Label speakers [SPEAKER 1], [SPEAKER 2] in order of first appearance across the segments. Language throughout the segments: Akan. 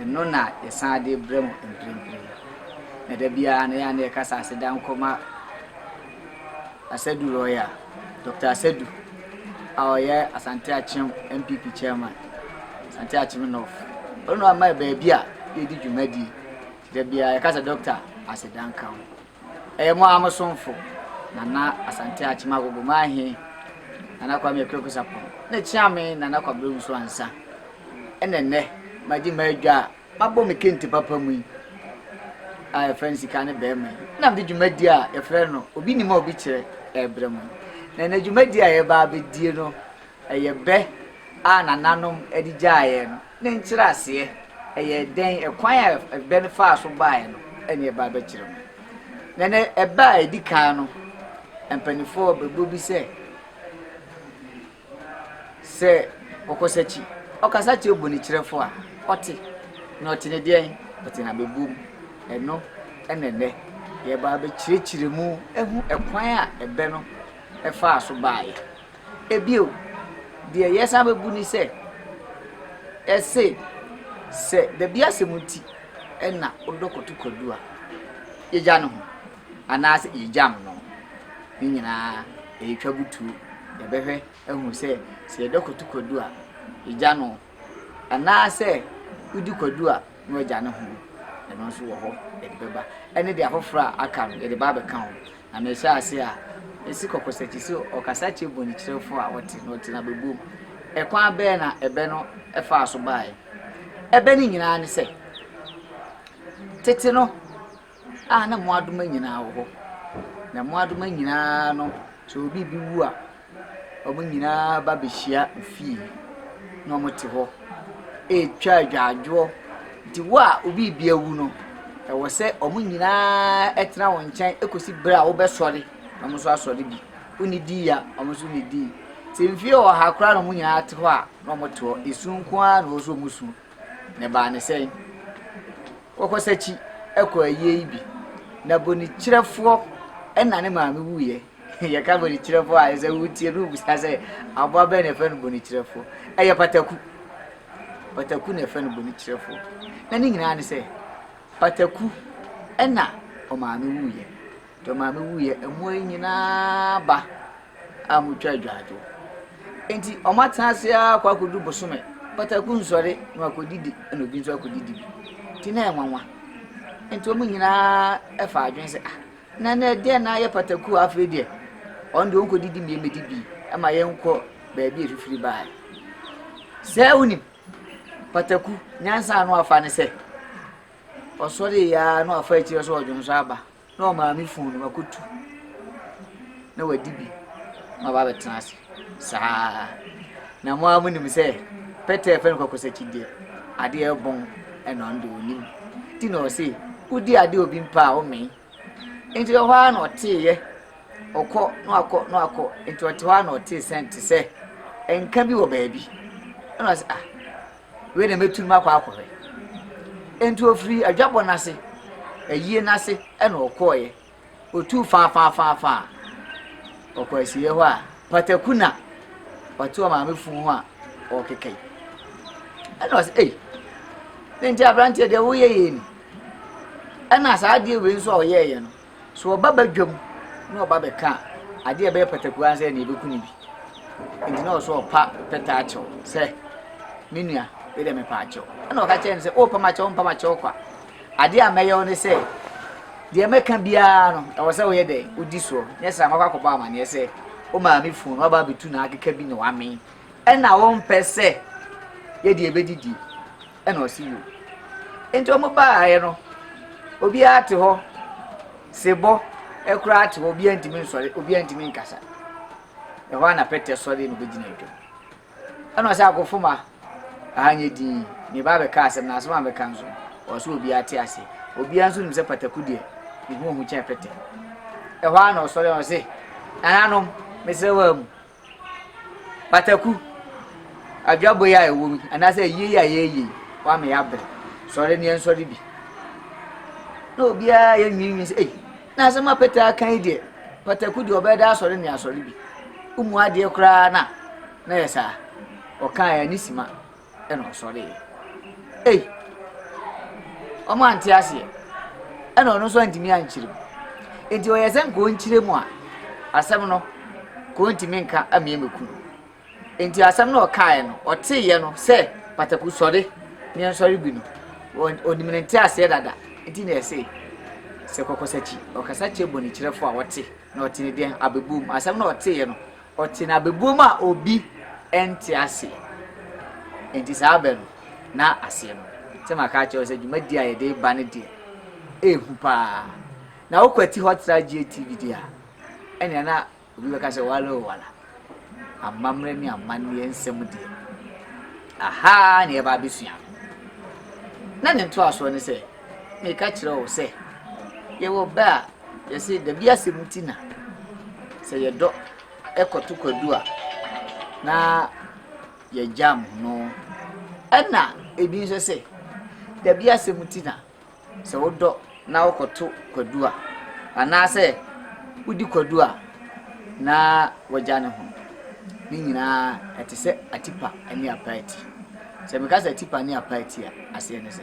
[SPEAKER 1] Ɛno na yɛsan de brɛ mo mprempren. Na da biara no, yɛn ara na yɛkasa aseda nkɔ ma Asadu Royal, Dɔkta Asadu a ɔyɛ Asante Akyem NPP Chairman, Asante Akyem North. Ɔno na wama yɛn baabi a yɛdi dwumadie. Da biara yɛka sɛ, Dɔkta, aseda nka wo. Ɛyɛ mo ara mo somfo, Nana Asante Akyem Agogo Mahe, Nana Kwame Kweku Sarpong, ne Kyeame Nana Kwabena Owusu Ansah. Ɛna nnɛ, magye m'adwa a mabɔ me kente papa mu yi a yɛfrɛ no Sika ne Bɛrima yi, na mede dwumadi a yɛfrɛ no Obi Nim a Obi Kyerɛ rebrɛ mo. Na nnɛ dwumadi a yɛba abɛdie no, Ɛyɛ bɛ a nananom de gyaeɛ no ne nkyerɛaseɛ, ɛyɛ dɛn, ɛkwan a bɛ no faa so baeɛ no ne ɛbaa bɛkyerɛ mu. Na ne ɛbɛ a ɛdi kan no, mpaninfoɔ bɛbɔ bi sɛ, sɛ ɔkɔsakyi ɔkasa kyerɛ bonikyerɛfoɔ a, ɔte, na ɔte ne deɛn? Ɔte na bɛbɔ mu. Ɛno na ɛnnɛ yɛbaa bɛkyerɛkyerɛ mu, ɛhu ɛkwan a ɛbɛ no faa so baeɛ. Bio, deɛ yɛsan bɛbu ne sɛ, yɛse sɛ dabi asɛm nti na ɔdɔ kɔto Kwadu a, yɛgya ne ho anaasɛ yɛgyam no, ne nyinaa yɛtwa butuo. Yɛbɛhwɛ ahunu sɛ, sɛ yɛdɔ kɔto Kwadu a, yɛgya no Anaasɛ wodi kwadu a na wagya ne ho, ɛno nso wɔ hɔ yɛde bɛba, ɛne deɛ afoforɔ a aka no yɛde ba abɛka ho. Na mehyɛ ase a, ɛsi kɔkɔsakyi sɛ ɔkasa kyerɛ bɔnekyerɛfoɔ a ɔte na ɔte no abɛbom. Ɛkwan bɛn na ɛbɛ no faa so baeɛ? Ɛbɛ no nyinaa ne sɛ, tete no, a na mmoadoma nyinaa wɔ hɔ. Na mmoadoma nyinaa no, sɛ obi bi wu a, wɔn nyinaa ba bɛhyia fie na wɔte hɔ retwa agyaadwoɔ. Nti wo a obi bi awu no, ɛwɔ sɛ wɔn nyinaa tena wo nkyɛn kɔsi berɛ a wobɛsɔre na wɔn nso asɔre bi. Wonnidii a, wɔn nso nnidii. Sɛ mfeɛ ɔha koraa na wɔn nyinaa te hɔ a, na wɔte hɔ. Esu nko ara na ɛwɔ sɛ wɔsu. Na ɛbaa ne sɛ Kɔkɔsakyi kɔɔ ayie yi bi, na bonikyerɛfoɔ na ne maame wuiɛ. Yɛka bonikyerɛfoɔ a, sɛ wotie no wobisa sɛ aboa bɛn na ɛfɛ no bonikyerɛfoɔ. Ɛyɛ pataku. Pataku na ɛfɛ no bonikyerɛfoɔ. Na ne nyinaa ne sɛ, pataku na ɔmaame wuiɛ. Tɔ maame wuiɛ, mmoa yi nyinaa ba a motwa adwaadwo. Enti wɔatena ase ara kɔ akɔduru bosome, pataku nsɔre na wakɔdidi na obi nso akɔdidi bi. Nti na ɛnwanwa. Nti wɔn nyinaa fa adwene sɛ ah, na na ɛdeɛ na ayɛ pataku a afei deɛ wɔn deɛ wɔnkɔdidi mmie mmɛdi bi ma yɛnkɔ baabi a ɛfifiri baeɛ. Sɛ wonim pataku nyansa ano afa ne sɛ ɔsɔre yɛ ara na wafa akyire sɛ ɔdwonsɔ aba Na ɔmaa me fon no makotu na wadi bi na waba abɛtena ase saa na mo ara monim sɛ pɛtɛ ɛfɛ no kɔkɔsakyi deɛ adeɛ ɛbɔn ɛna ɔno deɛ ɔnim nti na ɔse wodi adeɛ obi mpa a womee nti ɛhɔ ara na ɔteeɛ ɔkɔ na wakɔ na wakɔ nti ɔte hɔ ara na ɔtee sɛn te sɛ nka bi wɔ baabi ɛna ɔse ah Wei na mɛtu no makɔ akɔhwɛ. Enti ɔfirii adwabɔ no ase, ayie no ase na ɔkɔeɛ. Ɔtuu faafaafaafa a, ɔkɔɔ asieeɛ hɔ a, pataku na ɔte ɔmaame funu ho a ɔrekeka yi. Ɛna ɔsɛ, ei, ne nti aberanteɛ deɛ woyɛ yei ni. Ɛna saa adeɛ wei nso a ɔyɛeɛ no, So ɔba badwam na ɔba bɛka a, adeɛ a ɛbɛyɛ pataku ara sɛ ɛne ɛbɛku no bi. Nti na ɔsɛ ɔpa pɛtɛ akyɛw sɛ, me nua, wei deɛ mepa akyɛw. Ɛna ɔka kyerɛ no sɛ, wopa ma kyɛw, mpa ma kyɛw kwa. Adeɛ a mɛyɛ wo ne sɛ, deɛ mɛka biara no, ɛwɔ sɛ woyɛ dɛ, wodi soɔ. Nyɛ sɛ amakɔ akɔbɔ amaneɛ sɛ, wo maame funu no waba abɛtu n'akeka bi na wamee. Ɛna wompɛ sɛ yɛde ɛbɛdidie. ɛna ɔse yo. Nti ɔmo baeɛ no, obiara te hɔ, sebɔ koraa te hɔ, obiara ntumi nsɔre, obiara ntumi nkasa. Ɛhɔ a na Pɛtɛ sɔre na obɛgyina atwam. Ɛna ɔsɛ akofoma, aha nyɛ din, meba abɛka asɛm na asɛm a mɛka nso, ɔsɛ obiara te ase. Obiara nso nim sɛ pataku deɛ, ne ho ohu kyɛn Pɛtɛ. Ɛhɔ a na ɔsɔre na ɔse, nananom, mesrɛ wɔ amu, Pataku, adwabɔ yi a ɛwɔ mu anaasɛ ayie yi a yɛreyɛ yi, wama yɛabrɛ. Sɔre na yɛnsɔre bi. Na obiara yɛnwiinwii sɛ, ei, na asɛm a Peter aka yi deɛ, pataku deɛ ɔbɛda asɔre na yɛasɔre bi. Womu adeɛ koraa na na yɛ saa. Ɔkaa yɛ ani sima. Ɛna ɔsɔreeɛ. Ei! Wɔn ante aseɛ. Ɛna ɔno nso antumi ankyerɛ mu. Enti ɔyɛ sɛ nka ɔnkyerɛ mu a, asɛm no ka ɔntumi nka amia mɛku no. Enti asɛm no ɔkaeɛ no, ɔteeɛ no sɛ pataku sɔre ne nsɔre bi no, ɔnim ne nte aseɛ dada. Enti na ɛse sɛ kɔkɔsakyi, ɔkasa kyerɛ bɔnekyerɛfoɔ a ɔte na ɔte ne deɛ abɛbom. Asɛm no ɔteeɛ no, Ɔte na bɛbɔ mu a obi nte ase. Enti saa bɛ no, na aseɛ no, sɛ maka akyerɛ wo sɛ dwumadie a yɛde reba no deɛ, ɛrehu pa ara. Na wokwati hɔ tra GATV deɛ a, ɛnea na obi bɛka sɛ wala o wala. Amammerɛ ne amanneɛ nsɛm deɛ, aha ara na yɛba abɛsua no. Na ne ntoasoɔ ne sɛ, meka kyerɛ wo sɛ, yɛwɔ bɛ a, Yɛse dabi asɛm nti na sɛ yɛdɔ ɛkɔto kwadu a na yɛgyam no. Ɛna ebi nso sɛ dabi asɛm nti na sɛ wodɔ na wokɔto kwadu a anaasɛ wodi kwadu a na wagya ne ho. Ne nyinaa ɛte sɛ atipa ne apaati. Sɛ meka sɛ atipa ne apaati a aseɛ ne sɛ.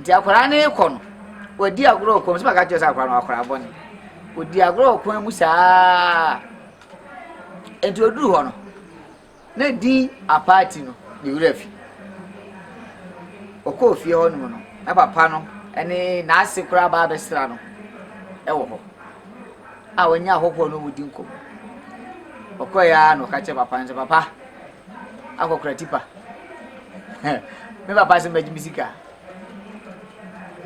[SPEAKER 1] Nti akwadaa no rekɔ no, wadi agorɔ wɔ kwan mu. Sɛ bɛka kyerɛ sɛ akwadaa no akwadaa bɔne. Odi agorɔ wɔ kwan mu saa. Nti oduru hɔ no, na din apaati no ne wura fi. Ɔkɔɔ fie hɔ nom no, na papa no ne n'ase koraa baa bɛsra no wɔ hɔ a wɔnyɛ ahɔhoɔ no wɔdi nkɔmmɔ. Ɔkɔɛ ara na ɔka kyerɛ papa no sɛ, papa, akɔkora tipa me papa se mɛgye me sika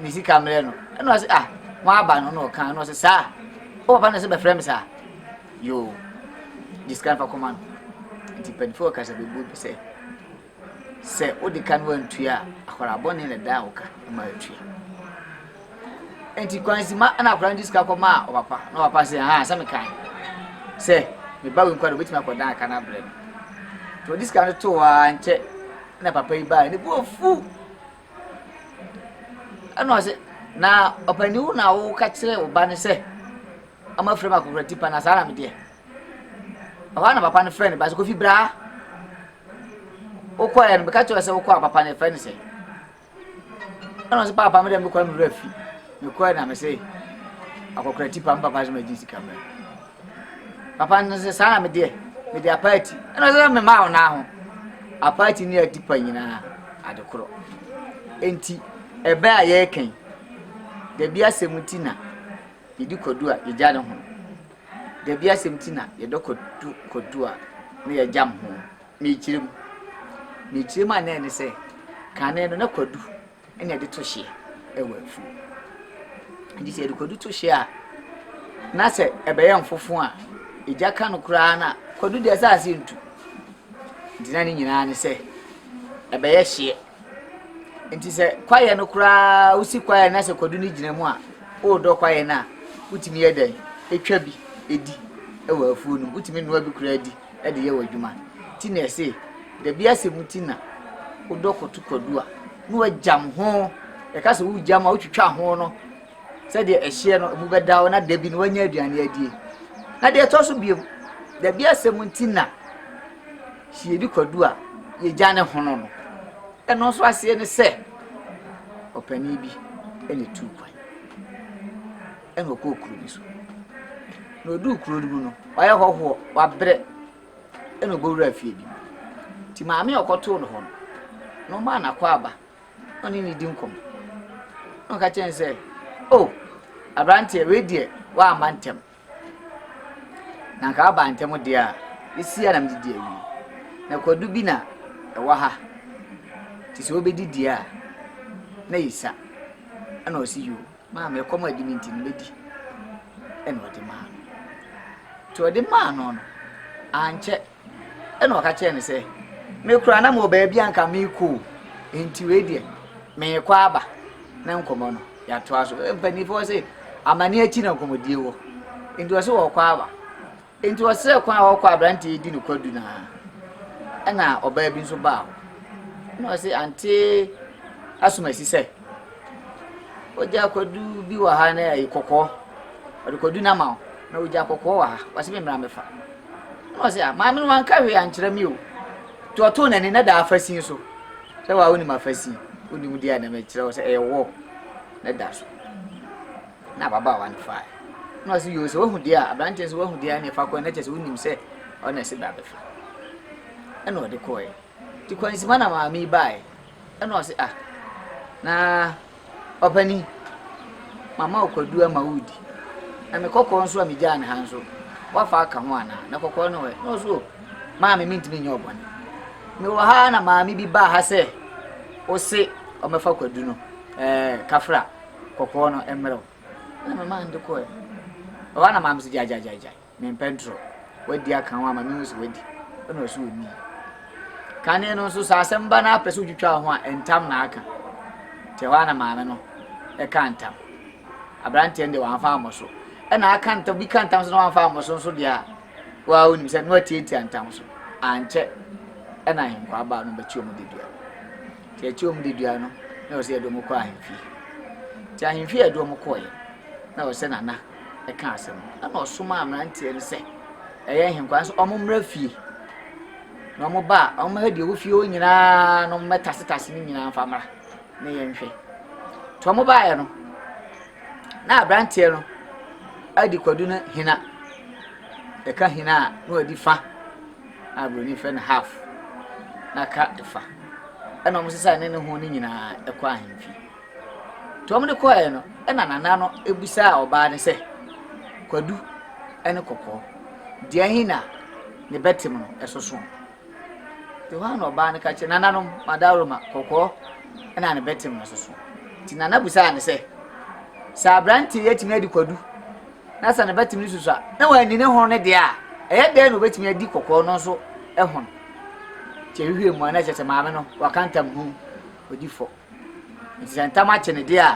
[SPEAKER 1] ne sika mmerɛ no ɛna ɔse ah wɔn aba no na ɔka ɛna ɔse saa o papa na ɛsɛ bɛfrɛ me saa yoo gye sika nfa kɔma no nti mpanyinfoɔ ɔkasa bɛbu bi sɛ sɛ wode ka no antua akwaraa bɔne na ɛda a woka ma atua Enti kwansi ma ɛna akwadaa no de sika kɔmaa ɔpapa na ɔpapa sɛ ha sɛ mekan sɛ me ba wei nkwa de obetumi akɔdan aka no abrɛ no nti ɔde sika no too hɔ ara nkyɛ na papa yi baa ne bo afu ɛna ɔsɛ na ɔpanyin wo na woka kyerɛ wo ba no sɛ ɔma afiri mu akɔkora tipa na saa na medeɛ ɛhɔ na papa no frɛ ne ba sɛ kofi braa wokɔɛ no bɛka kyerɛ sɛ wokɔ a papa no ɛfrɛ no sɛ Ɛna ɔsɛ paapa me dɛ mekɔ na mewura fi. Mekɔɛ na mese akɔkora tipa me papa sɛ magye sika mmerɛ. Papa no sɛ saa na medeɛ mede apaati. Ɛna ɔsɛ sɛ memaa wo naa ho. Apaati ne atipa nyinaa ade korɔ. Enti ɛbɛ a yɛrekɛn dabi asɛm ti na yɛdi kwadu a yɛgya ne ho. Dabi asɛm ti na yɛdɔ kwadu a na yɛgyam ho. Mekyerɛ mu. Mekyerɛ mu a na ɛne sɛ kane no na kwadu na ɛde to hyeɛ wɔ afuo. Nti sɛ yɛde kwadu to hyeɛ a na sɛ ɛbɛyɛ mfofo a egya ka no koraa na kwadu deɛ ɛsɛ ase ntu. Nti na ne nyinaa ne sɛ ɛbɛyɛ hyeɛ. nti sɛ kwaeɛ no koraa wosi kwaeɛ na sɛ kwadu no gyina mu a woredɔ kwaeɛ no a wotumi yɛ dɛn ɛtwa bi ɛdi ɛwɔ afuo no wotumi nnoa bi koraa di ɛde yɛ wɔ adwuma ti na ɛse dabi asɛm ti na wodɔ koto kwadu a na wagyam ho ɛka sɛ wogyam a wotwitwa ho no sɛdeɛ ɛhyeɛ no ɛmu bɛda wo na da bi no wanya aduane adie na deɛ ɛtɔ so biom dabi asɛm ti na Sɛ yɛdi kwadu a, yɛgya ne hono no. Ɛno nso aseɛ ne sɛ, ɔpanin bi na ɛtuu kwan. Ɛna ɔkɔɔ kuro bi so. Na ɔduu kuro no mu no, wayɛ hɔhoɔ, wabrɛ. Ɛna ɔbɛwura fie bi mu. Nti maame a ɔkɔtoo no hɔ no, na ɔmaa n'akɔ aba. Na ɔne ne di nkɔmmɔ. Na ɔka kyerɛ no sɛ, o, aberanteɛ, wei deɛ, woamma ntɛm. na anka aba ntɛm de a, esi a na mede di awie. Na kwadu bi na ɛwɔ ha, te sɛ wobɛdi di a, na yɛ sa. Ɛna ɔsi yoo, maame ɛkɔm adi me nti no mɛdi. Ɛna ɔde maa no. Nti ɔde maa no no, ankyɛ. Ɛnna ɔka kyerɛɛ no sɛ, Me koraa na mewɔ baabi a anka merekɔ o, enti wei deɛ, merekɔ aba na nkɔmmɔ no yɛatoa so. Mpanimfoɔ se, amanneɛ akyi na nkɔmmɔdie wɔ. Enti ɔse ɔrekɔ aba. Enti ɔsrɛɛ kwan a ɔrekɔ aberanteɛ yi di no kwadu no ara. Ɛnna ɔbaa bi nso baa hɔ. Ɛnna ɔse, Ante Asumasi sɛ, Ogya kwadu bi wɔ ha na ɛyɛ kɔkɔɔ. Ɔde kwadu no ama wo. Na ogya kɔkɔɔ wɔ ha. Ɔse me mmra mɛfa. Na ɔse a, maame no wanka hwee ankyerɛ me o. Nti ɔtoo n'ani na da afasin so. Sɛ wa wonim afasin, wonim deɛ a na mekyerɛ wo sɛ ɛyɛ wall na da so. Na ababaawa no fae. Na ɔse yoo sɛ wahu deɛ a, aberanteɛ sɛ wahu deɛ a na ɛfa kɔɛ na kyerɛ sɛ wonim sɛ ɔna ɛse bra bɛfa. Ɛna ɔde kɔɛ. Nti Kwansima na maame yi baeɛ. Ɛna ɔse ah na ɔpanin mama wo kwadu ama woredi na me kɔkɔɔ nso a megyaa no ha nso woafa aka ho anaa na kɔkɔɔ no ɛ na ɔse o maame mentumi nyɛ ɔbɔne mewɔ ha na maame bi baa ha sɛ ose ɔmɛfa kwadu no ɛɛ kafra kɔkɔɔ no mmerɛ wo ɛna mema no de kɔɛ ɛhɔ na maame so gyaagyaagyaagyae Men Pedro, w'adi aka ho ama me hu sɛ w'adi. Ɛna ɔso onni. Kane no nso sɛ asɛm ba na apɛ sɛ wotwitwa ho a ntam na aka. Te hɔ ana maame no ɛka ntam. Abranteɛ no deɛ wamfa ammɔ so. Ɛna aka ntam bi ka ntam so na wamfa ammɔ so nso deɛ a wa onim sɛ no atiatia ntam so. Ankyɛ ɛna ahenkwaa baa no bɛkyi wɔn dedua. Te ɛkyi wɔn dedua no na ɔsɛ yɛde wɔn kɔ ahemfie. Te ahemfie yɛde wɔn kɔɛ na ɔsɛ nana kaa asɛm no, ɛnna ɔsomaa mmeranteɛ no sɛ ɛyɛ ahenkwan sɛ wɔmmra fie. Na wɔba a, wɔmmɛhwɛ deɛ ɛwɔ fie hɔ nyinaa na wɔmmɛtasetase ne nyinaa mfa mmra na yɛnhwɛ. Nti wɔbaeɛ no, na aberanteɛ no adi kwadu no hena. Ɛka hena a, na wadi fa na aburoni frɛ no half na ka fa. Ɛnna wɔsesaa ne ne ho no nyinaa kɔ ahemfie. Wɔde kɔeɛ no, ɛna Nana no bisaa ɔbaa no sɛ, Kwadu ne Kɔkɔɔ, deɛn he na ne bɛtem no so soɔ? Nti hɔ a na ɔbaa no ka kyerɛ nananom, Madaworo ma Kɔkɔɔ na ne bɛtem no so soɔ. Nti Nana bisaa no sɛ, Sɛ aberanteɛ yi atumi adi Kwadu na sɛ ne bɛtem no susu a, na wanni ne hono no deɛ a, ɛyɛ dɛn na obɛtumi adi Kɔkɔɔ no nso hono? Nti ɛhwehwɛɛ mu a na ɛkyerɛ sɛ maame no waka ntam ho odi fɔ. Nti sɛ ntam akye no deɛ a,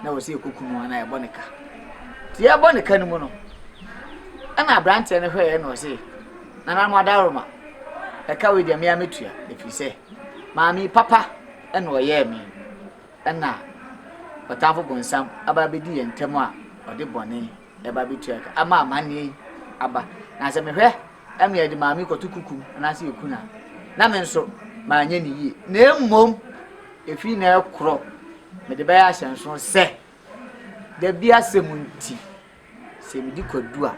[SPEAKER 1] na ɛwɔ sɛ yɛkɔku no anaa yɛbɔ ne ka. Nti yɛbɔ ne ka no mu no, ɛna aberanteɛ no hwɛeɛ na ɔse, nananom adaworoma, ɛka wei deɛ me a mɛtua, ɛfiri sɛ maame papa ɛna ɔyɛɛ me, ɛna ɔtamfo bonsam aba abɛdi yɛn ntam a ɔde bɔne Ɛba betua ka ama amanneɛ yi aba. Na sɛ mehwɛ na meyɛ de maame kɔto kukum anaasɛ yɛku no a, na me nso manyɛ ne yie. Na mmom, ɛfiri na ɛkorɔ mede bɛyɛ ahyɛnso sɛ da bi asɛm nti, sɛ medi kwadu a,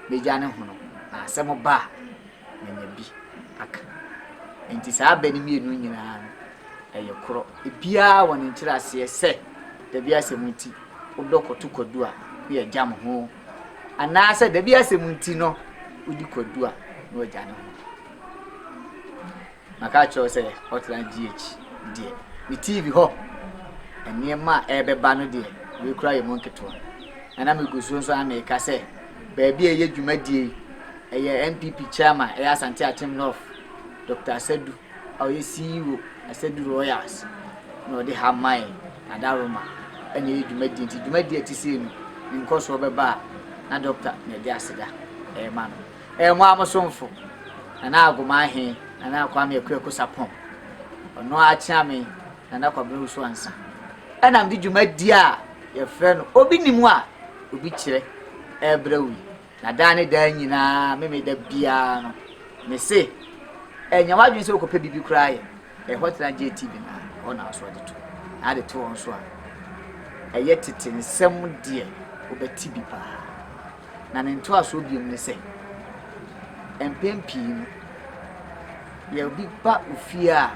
[SPEAKER 1] mɛgya ne hono, na asɛm ba a, manya bi aka. Enti saa abɛ no mmienu nyinaa no, ɛyɛ korɔ. Ebiara wɔ ne nkyerɛaseɛ sɛ dabi asɛm nti wodɔ kɔto kwadu a, ne yɛgyam ho. Anaasɛ dabi asɛm nti no, wodi kwadu a, ne wagya ne ho. Maka akyerɛ wo sɛ Hotline GH deɛ ne TV hɔ nneɛma a ɛrebɛba no deɛ wei koraa yɛ mu nketewa. Na na megu so nso ara meka sɛ baabi a ɛyɛ dwumadie yi ɛyɛ NPP Chairman ɛyɛ Asante Akyem North Dɔkta Asadu a ɔyɛ CEO Asadu Royals na ɔde ha mae na Adaroma ɛna ɛyɛ dwumadie nti dwumadie a ɛte sei no ne nkɔsoɔ bɛba a na Dɔkta na ɛde aseda ɛrema no. Ɛyɛ mo ara mo somfo, Nana Agomaa he, Nana Kwame Akuaku Sarpong. Ɔno ara kyeaa me Nana Kwabena Owusu Ansa. Ɛna mede dwumadie a yɛfrɛ no Obi Nim a Obi Kyerɛ ɛɛbrɛ wo yi. Na daa ne daa nyinaa, me me da biara no, me se, Ɛnyɛ w'adwene sɛ wokɔpɛ biribi koraa yɛ. Ɛhɔ tena JT Bena a, hɔ na nso ɔde to. Na ade to hɔ nso a, ɛyɛ tete nsɛm deɛ wobɛte bi paa. Na ne ntoasoɔ bio ne sɛ, mpɛn pii no, yɛ obi ba wo fie a,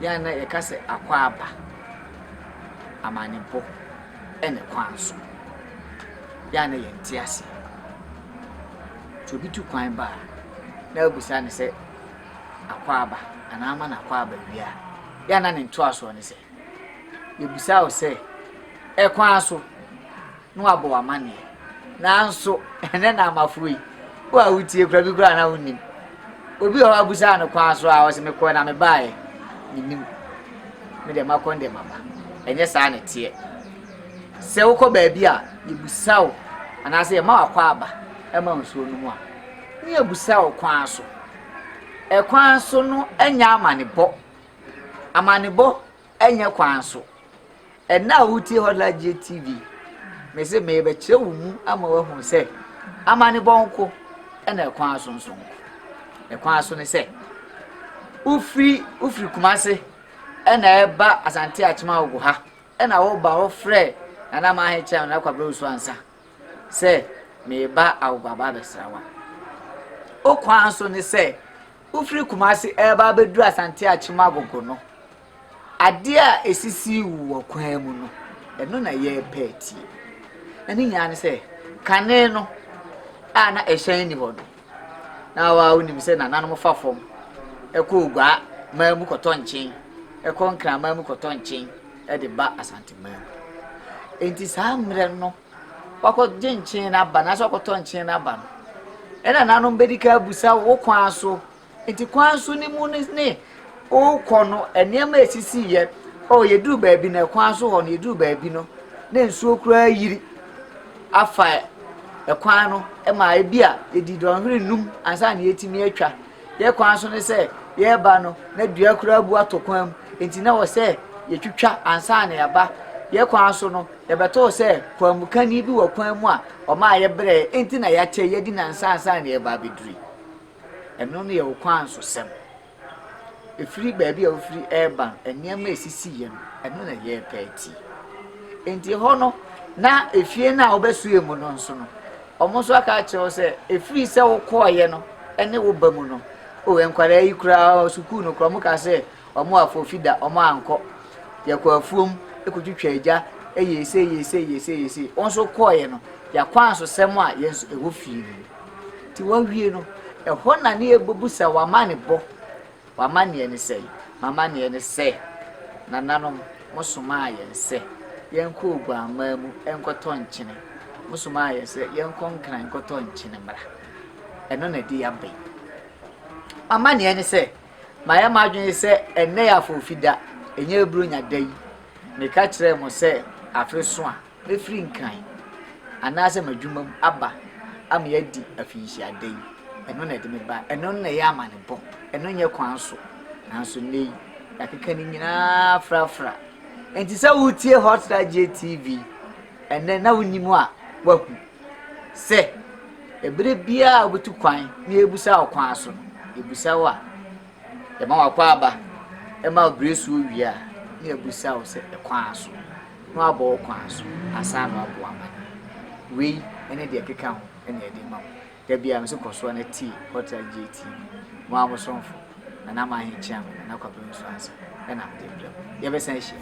[SPEAKER 1] yɛn na yɛka sɛ akwaaba, amanebo ne kwan so. Yɛn na yɛnte aseɛ. Nti obi tu kwan ba a, na wobisa ne sɛ akwaaba anaa ama no akwaaba wie a, yɛn na ne ntoasoɔ ne sɛ, yɛbisa wo sɛ, ɛkwan so. na wɔabɔ wo amanneɛ. Nanso, ɛnnɛ na amafo yi, wo a wutie kura bi kura na wunnim. Obi wɔ hɔ a busaa no kwan so a ɔsɛ mekɔɛ na mebaeɛ. Mennim. Me deɛ makɔ ndɛ maba. Ɛnyɛ saa na ɛteɛ. Sɛ wokɔ baabi a yɛbusa wo anaasɛ yɛma wakɔ aba ɛma nsuo no mu a, ne yɛbusa wo kwan so. Ɛkwan so no ɛnyɛ amanebɔ. Amanebɔ Ɛnyɛ kwan so. Ɛnnɛ a wutie Hotline-Gye TV, mise merebɛkyerɛ wo mu ama woahu sɛ amanebɔ nko na ɛkwan so nso nko. Ɛkwan so ne sɛ, wofiri wofiri Kumase na ɛreba Asante Akyem Awogo ha na woba hɔ frɛ Nana Mahe Kyɛm, Nana Kwabena Osu Ansah, sɛ mereba Awobo aba abɛsra wo a, wo kwan so ne sɛ wofiri Kumasi ɛreba abɛduru Asante Akyem Agogo no, adeɛ a ɛsisi wo wɔ kwan mu no, ɛno na yɛrepɛ atie. Ɛne nyinaa ne sɛ, kane no a na ɛhyɛn ni hɔ no, na wa wonim sɛ nananom fa fam kɔ Ogua man mu kɔtɔ nkyen, kɔ Nkraman mu kɔtɔ nkyen de ba Asante man mu. Enti saa mmerɛ no, wakɔgye nkyen no aba, anaasɛ wakɔtɔ nkyen no aba no, ɛna nanom bɛdi ka abusa wo kwan so. Enti kwan so no mu ne ne wokɔ no, nneɛma a ɛsisiiɛ, oh, yɛduru baabi na kwan so hɔ no, yɛduru baabi no, na nsuo koraa yiri. afa kwan no ma ebia yɛdi dɔnhwere nnum ansa na yɛatumi atwa. Yɛn kwan so ne sɛ yɛreba no, na dua kura abu ato kwan mu, enti na wɔ sɛ yɛtwitwa ansa na yɛaba. Yɛn kwan so no, yɛbɛtoo sɛ kwaamukani bi wɔ kwan mu a ɔmaa yɛbrɛɛ, enti na yɛakyɛ, yɛadi nnansa ansa na yɛreba abɛduru. Ɛno ne yɛn ɔkwansosɛm. ɛfiri baabi a wofiri reba no, nneɛma a ɛsisiiɛ no, ɛno na ɛyɛɛ paa ti. Enti ɛhɔ no, na efie no a wobɛsoɛ mu no nso no, wɔn nso aka akyerɛ wo sɛ, ɛfiri sɛ wokɔɔeɛ no ne wo ba mu no, o nkwadaa yi koraa sukuu no koraa, wɔn ka sɛ wɔn afɔfi da, wɔn ankɔ. Yɛkɔ afuom, ɛkɔtwitwa agya, ɛyɛ ese, ɛyɛ ese, ɛyɛ ese, ɛyɛ ese. Wɔn nso kɔɔeɛ no, yɛakɔ ansosɛm a yɛn nso ɛwɔ fie no. Nti wawie no, ɛhɔ na ne yɛbɛbu sɛ w'amanebɔ, w'amanneɛ ne sɛn? M'amanneɛ ne sɛ, nananom, mosomaa yɛn sɛ yɛnkɔ Oguammaa mu nkɔtɔ nkyene. Mosomaa yɛn sɛ yɛnkɔ Nkran nkɔtɔ nkyene mmra. Ɛno na ɛde yɛn aba yi. M'amanneɛ ne sɛ, mayɛ m'adwene sɛ ɛnnɛ yɛ Afɔrfida, ɛnyɛ Buronya da yi. Meka kyerɛɛ mo sɛ afe so a, mefiri Nkran anaasɛ m'adwuma mu aba ama yɛadi afinhyia da yi. Ɛno na ɛde me ba. Ɛno na ɛyɛ amanebɔ. Ɛno nyɛ kwan so. Nanso nnɛ yi, yɛakeka ne nyinaa frafra. Enti sɛ wotie Hot Ragye TV ɛnɛ na wonim a, woahu sɛ ɛberɛ biara a wobetu kwan na yɛbusa wo kwan so no, yɛbusa wo a, Yɛma w'akwaaba ma ɔbrɛ su owie a, na yɛabisa wo sɛ kwan aso, na wabɔ wo kwan aso ansa na waboa ama no. Wei ne deɛ ɛkeka ho na yɛde rema wo. Da biara mese kɔ so na tie Hotline Gye TV, mo ara mo somfo, Nana Mahe Kyeame, Nana Kwabena Osu Ansah na mede rebrɛ wo. Yɛbɛsan ahyia.